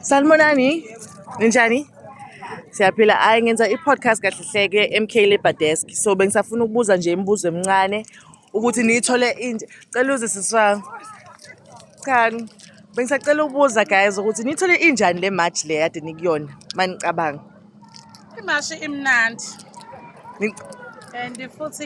Sanibonani. Ninjani? Siyaphila. Hayi ngenza i-podcast kahle hleke MK Labour Desk. So bengisafuna ukubuza nje imibuzo emincane ukuthi niyithole inje. Cela uze siswa. Cha. Bengisacela ukubuza guys ukuthi niyithole injani le march le yade nikuyona manicabanga. imashi imnandi and futhi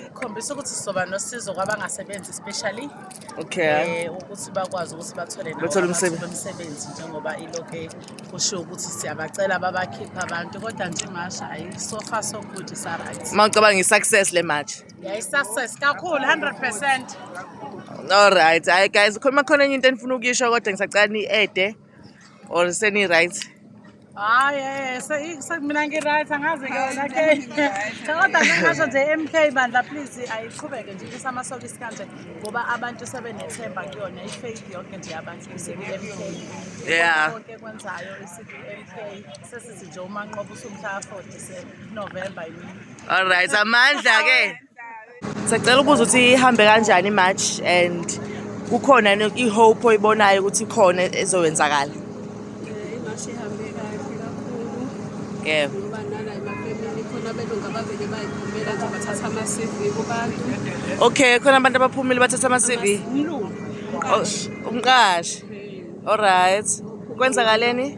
ikhombisa ukuthi sizoba nosizo kwabangasebenzi especially okay um ukuthi bakwazi ukuthi bathole bathole umsebenzi njengoba iloke kushiwo ukuthi siyabacela babakhiphe abantu kodwa nje imasha ayi so far so good isaright uma ucabanga i-success le match yayi-success kakhulu 100 percent Alright, hayi guys, khona khona enye into enifuna ukuyisho kodwa ngisacela ni-ede. or seni right hayi eh, se- se- mina ngi-right angazi ke wena ke kodwa ngingasho nje mk bandla please ayiqhubeke nje ibisa amasokisi kanje ngoba abantu sebenethemba kuyona i-faith yonke nje abantu isiku-mk Yeah. konke kwenzayo isiku-mk sesithi nje umanqoba usumhla afodise novemba yimini all right amandla ke Sacela ukubuza ukuthi ihambe kanjani imatch and kukhona i-hope oyibonayo ukuthi khona ezowenzakala. Imatch ihambe kahle kakhulu. Yebo. Ngoba nala emafemini khona abelungu abavele bayiphumela nje bathatha ama-CV kubantu. Okay, khona abantu abaphumile bathatha ama-CV. Umlungu. Umqashi. Umqashi. Alright. Kwenzakaleni?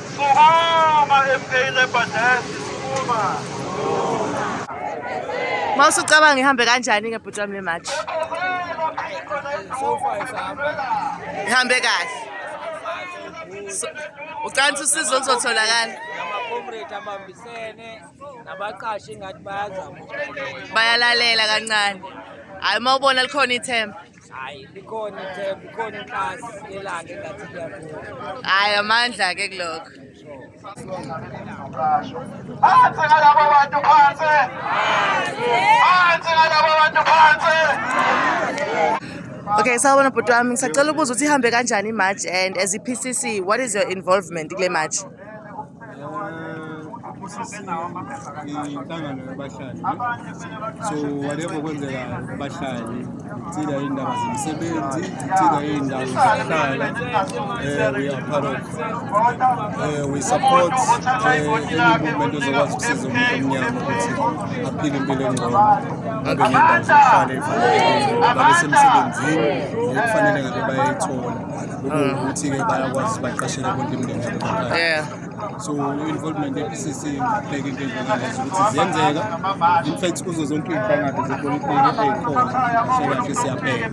Sukuma MK Labour Desk, sukuma. Mawusu ucabanga ihambe kanjani ke bhuti wami le match? Ihambe kahle. Ucanisa usizo oluzotholakala. Amacomrade abambisene nabaqashi ngathi bayazama. Bayalalela kancane. Hayi uma ubona likhona ithemba. Hayi likhona ithemba, ikhona inkazi elanga engathi liyakhona. Hayi amandla ke kulokho. Phansi ngalabo bantu phansi. Phansi ngalabo bantu phansi. Okay, sawubona bhuti wami ngisacela ukubuza ukuthi ihambe kanjani i-march and as i-PCC what is your involvement kule march? inhlangano yabahlali so whatever kwenzeka bahlali thina iy'ndaba zemisebenzi thina iy'ndawo zokuhlala um we are part of um we support um any movement ozokwazi ukusiza umuntu omnyama ukuthi aphile impilo engcono abe nendawo zokuhlala efanele babe semsebenzini nekufanele ngabe bayayithola ukuthi-ke bayakwazi ukuthi baqashele bonke imindeni yeah so involvement ye-pcc ngibheke into enjengalezi ukuthi ziyenzeka in fact kuzo zonke iy'nhlangano zepolitiki ey'khona sekahle siyabheka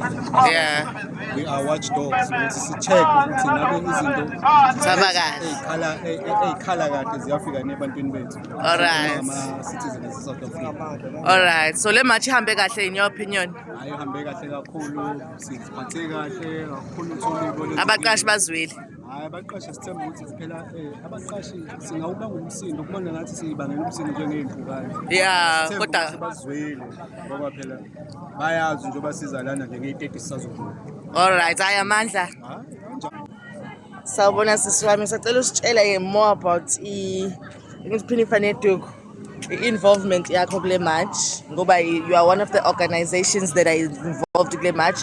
yeah we are watch dogs ukuthi si-check ukuthi ngabe izinto Zihamba kahle. ey'khala ey- ey- ey'khala kahle ziyafika nebantwini bethu Alright. ama-citizen ase-south africa alright so le match ihambe kahle in your opinion hhayi uhambe kahle kakhulu Siziphathe kahle kakhulu uthole abaqashi bazwile hayi abaqashi sithemba ukuthi siphela eh, abaqashi singawuba ngumsindo kubona ngathi siyibangela umsindo njengey'mpukane ya kodwa bazwile ngoba phela bayazi njengoba siza lana nje ngey'teti sisazokhula all right hayi amandla sawubona sisi wami sacela usitshela ye more about i-phinifa neduku i-involvement yakho kule march ngoba you are one of the organizations that are involved kule march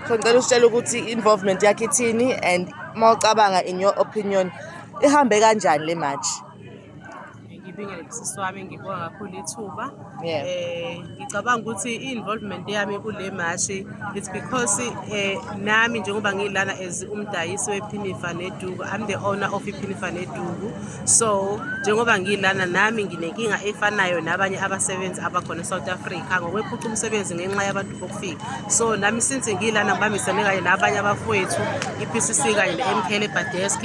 so ngicela usitshela ukuthi i-involvement yakho ithini and uma ucabanga in your opinion ihambe kanjani le march ngibingelele sisi wami ngibonga kakhulu ithuba um Ngicabanga ukuthi i-involvement yami kule mashi it's because eh, nami njengoba ngilana as umdayisi wephinifa neduku I'm the owner of iphinifa neduku so njengoba ngilana nami nginenkinga efanayo nabanye abasebenzi abakhona eSouth Africa ngokwephuca umsebenzi ngenxa yabantu bokufika so nami since ngilana ngibambisene kanye nabanye abafowethu i-PCC kanye ne-MK Labour Desk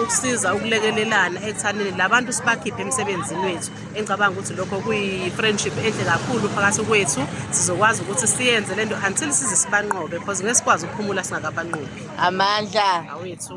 ukusiza ukulekelelana ekuthaneni labantu sibakhiphe emsebenzini wethu engicabanga ukuthi lokho kuyi-friendship enhle kakhulu phakathi kwethu sizokwazi ukuthi siyenze le nto until size sibanqobe because ngeke sikwazi ukuphumula singakabanqobi amandla awethu